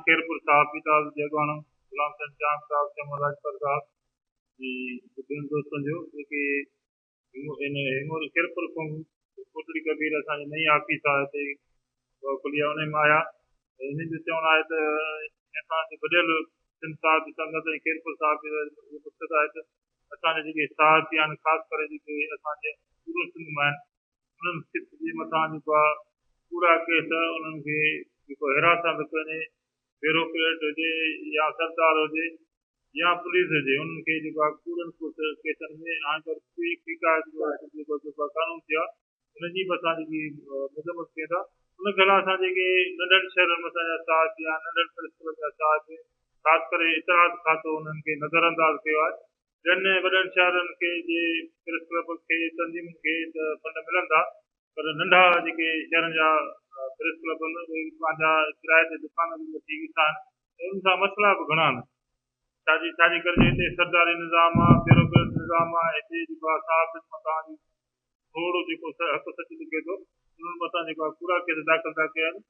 خيرپور صاحب جي ڳالهه جيوڳاڻو غلام حسين چانگ صاحب شمع راڄپر صاحب جي ٻين دوستن جو جيڪي هن هيموري خيرپور کان ڪوٽڙي ڪبير اسان جي نئين آفيس آهي هتي کليا انهي ۾ آيا هنن جو چوڻ آهي ته اسان جي وڏيل سنڌ صاحب جي سنگت ۽ خيرپور صاحب جي اهو مقصد آهي ته اسان جا جيڪي صاحب جي آهن خاص ڪري جيڪي اسان جي پورو سنڌ مان آهن انهن سکس جي مٿان جيڪو آهي پورا ڪيس انهن کي جيڪو هراسانت ڪونهي بيروڪريٽ هجي يا سردار هجي يا پوليس هجي انهن کي جيڪو آهي ڪوڙن ڪيسن ۾ هاڻي پر ڪي ڪيڪا جيڪو جيڪو قانون ٿيا انهن جي به اسان جيڪي مذمت ڪيون ٿا ان کي اسان جيڪي ننڍن شهرن ۾ اسان جا صاحب يا ننڍن پرنسپل جا صاحب خاص ڪري اطلاعات کاتو انهن کي نظر انداز ڪيو آهي ٻين وڏن شهرن کي جي پريس ڪلب کي تنظيمن کي ته فنڊ ملن ٿا پر ننڍا جيڪي شهرن جا پريس ڪلب آهن اهي پنهنجا ڪرايي تي دڪان به وٺي ويٺا آهن ۽ انهن سان مسئلا به گهڻا آهن ڇاجي ڇاجي ڪري جو هتي سرداري نظام آهي بيروڪريٽ نظام آهي هتي جيڪو آهي صحافين مٿان جي ٿورڙو جيڪو حق سچ لکي ٿو انهن مٿان جيڪو آهي ڪوڙا ڪيس داخل ٿا ڪين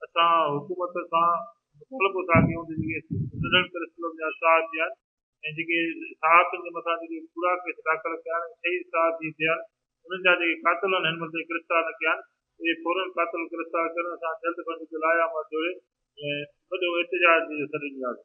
اسان حڪومت سان مطالبو ٿا ڪيون ته جيڪي ننڍن پريس ڪلب جا صحافي آهن ۽ جيڪي صحافتن جي مٿان جيڪي ڪوڙا ڪيس داخل ڪيا آهن ۽ شهيد صاحب جي ٿيا آهن انهن جا جيڪي قاتل آهن هن مهل تائين گرفتار نه ڪيا آهن اهي فورن قاتل گرفتار ڪرڻ سان جلد بند جو لايعمل جوڙي وڏو احتجاج جو سڏ ڏناسين.